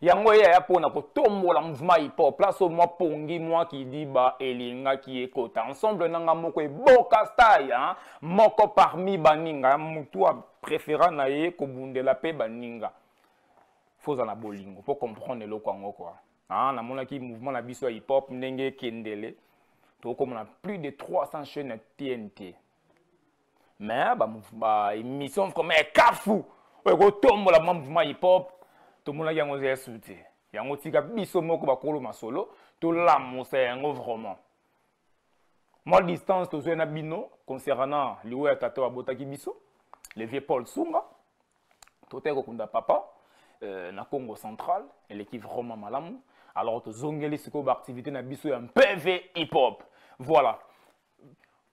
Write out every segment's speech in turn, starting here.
yango ye aya mpo na kotombola mouvement hip-hop place mwa pongi mwa kidiba elingaki ekota ensemble nanga moko eboka style hein? moko parmi baninga mutu a préféra na ye kobundela mpe baninga foza na bolingo mpo comprendre eloko yango kua ah, namonaki mouvement na biso ya hip-hop ndenge ekendele tokomona plus de 300 chaîne ya tnt mais ba ba émission comme kafu oyo ko tombola mwa mouvement hip hop to mona yango ya soute yango tika biso moko ba kolo masolo to la mosa yango vraiment moi distance to na bino concernant liwe ya tata abotaki biso le vieux Paul Sunga to te ko kunda papa euh, na Congo central elle est vraiment malamu alors to zongeli siko ba activité na biso ya PV hip hop voilà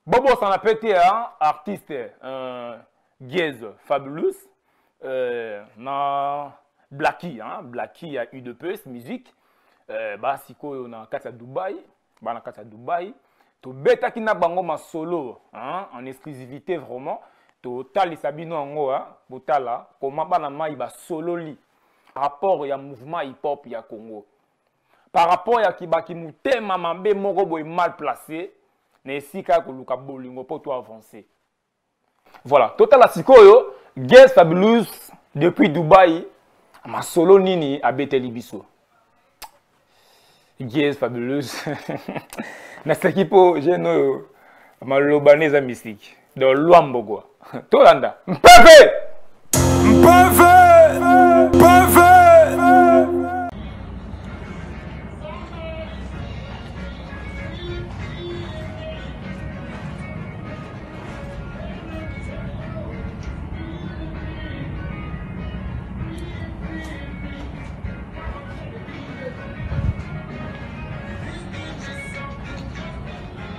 bobosana pe te ya artiste euh, giese fabulous euh, na blaki hein, blaki ya udps musique euh, basikoyo na kati ya dubai baa na kati ya dubai tobetaki na bango masolo hein, en exclusivité vraiment totalisa bino yango botala koma bana mai basololi rapport ya mouvement hip-hop ya congo par rapport ya kibaki motema mabe moko boye mal place na esika ya koluka bolingo mpo to avance voilà totala sikoyo ges fabulus depuis dubai masolo nini abeteli biso ges fabulus naseki mpo jeune oyo maloba nde eza mystique de loi mbogwa tolanda mpeve mpeve mpeve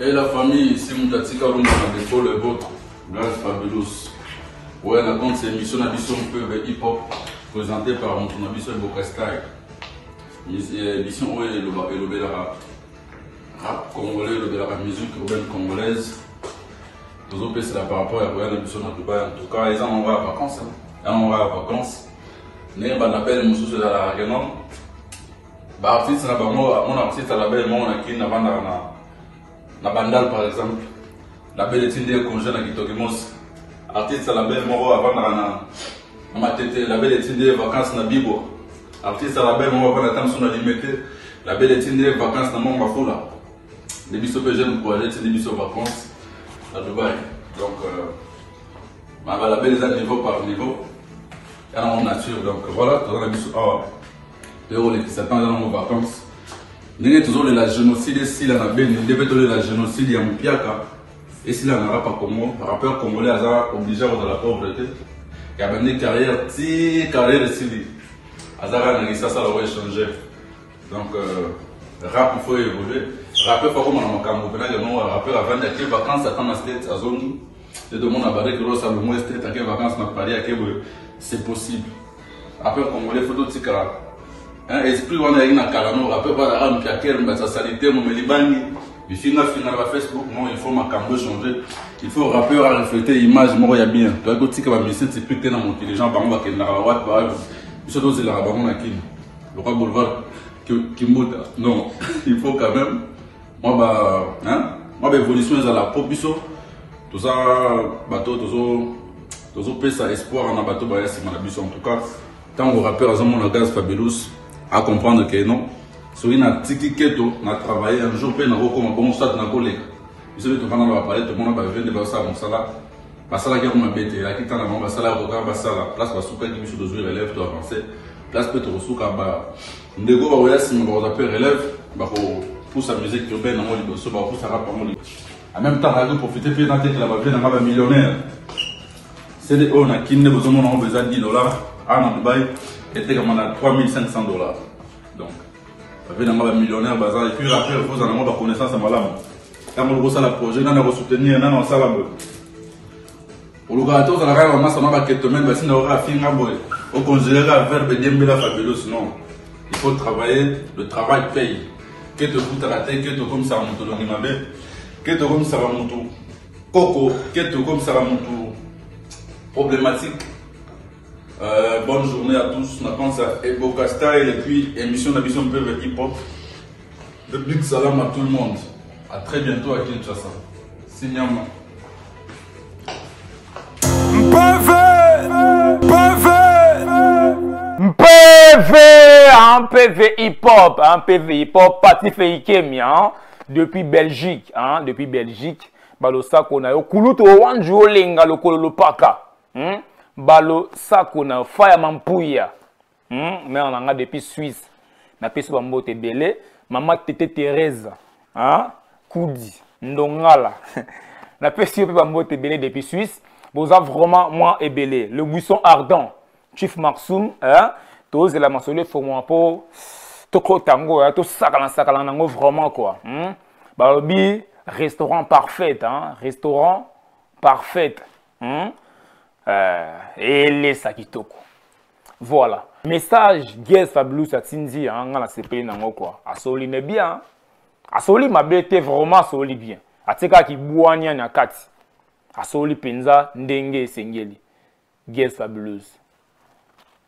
Et la famille, si mutu atika rumba na defaut le vôtre, Grand Fabulous. Ouais, na compte c'est émission na biso mpe be hip hop présenté par mutu na biso Eboka Style. Mis- eh, Émission oyo eloba elobelaka rap congolais, elobelaka musique urbaine congolaise. tozopesela par rapport ya koya na biso na dubai en tout cas eza moko ya vacances hein. eza moko ya vacances ndenge banabele mosusu ezalaka ke non ba artiste na bango mon artiste à la belle mon na kin na banda na na bandal par exemple la belle tindi un congé na kitoki mos artiste à la belle moko avandaka na na matete la belle tindi vacances na bibo artiste à la belle moko avanda tamso na limete la belle tindi vacances na mont mafula nde biso mpe jeune projet tindi biso vacances na dubai donc euh, ma balabelle eza niveau par niveau yana ngo nature donc voilà toza na biso awa toye kolekisa ntango eza nango vacance ndenge tozolela génocide esila na beni nde mpe tolela génocide ya mopiaka esila na rapa congo rappeur congolais aza oblige kozala pauvre te ya bandi carrière ti carrière esili aza kaka na lisasa loko échanger donc euh, rap il faut évoluer rappeur faut akoma na makambo mpena yango rappeur avandi ake vacance ata na state azongi nde tomona bareke losa lomweste take vacance na paris akeboye c'est possible Après congolais faut totika hein, esprit wana yaki na kala no après pas à mpiaker mais sa salité mo melibangi bifinga finga na Facebook non il faut makambo changer il faut rappeur à refléter image moko ya bien to ko tika ba mission typique na mon les gens bango bakenda ba wat ba biso to zela bango na kin lokwa boulevard kimbuta non il faut quand même mwa ba hein mwa ba évolution ezala po biso toza bato tozo tozopesa espoir na bato baya nsima na biso en tout cas ntango rappeur azomona gaz fabelus acomprendre ke non soki natiki keto na travaille un jour mpe nakokoma bongo soit nakoleka biso nde tofanda na bapale tomona bavie nde bazosala mosala basalaki yango mabe te elaki ntango bango basala kokaa basala place basukaki biso tozwi relève to avance place mpe tokosuka ba ndeko bakoya nsima bakoza mpe relève bakopusa musique urbaine yango liboso bakopusa rap yango liboso en même temps ayaki profite mpe natekela bavie na ngai bamillionnaire sede oyo na kini nde bozomona yango eza 10 dollar awa na dubai etekama na 3500 dollar donc bavie na ngai bamillionnaire baza epuis après kozala yango baconnaissance ya malamu ntango lokosala projet nani akosoutenir nani asala boye olukaka te ozala kaka bamasa na baketomene basinda oka afinga boye okonsidere kaka verbe diembela fabulus non il faut travailler le travail paye ke tokutaka te ke tokomisaka moto longi mabe ke tokomisaka moto koko ke tokomisaka moto problématique euh, bonne journée à tous na pense à eboka style et puis émission na biso mpeve hip hop de big salam à tout le monde à très bientôt à kinshasa sinyama Mpeve Mpeve Mpeve hein, Mpeve hip hop hein, Mpeve hip hop Pati Feikemi hein, depuis Belgique hein, depuis Belgique balosako na yo kulutu owanji olenga lokolo lopaka hmm? balosako na yo faya mampuya hmm, mère na nga depuis suisse napesi bambote ebele mama tete therese hein? kudi ndongala napesi yo mpe bambote ebele depuis suisse boza vraiment mwa ebele le buisson ardent chief marsum hein? tozela masolo efongwama mpo tokota yango hein? tosakana sakana na yango vraiment kua hmm? balobi restaurant parfait hein? restaurant parfait hmm? eh, elesa kitoko voilà message gues fabulus atindi hein, nga nasepeli nango kua asoli ne bien asoli mabe te vraiment asoli bien atikaka kibwania na kati asoli mpenza ndenge esengeli gues fabulus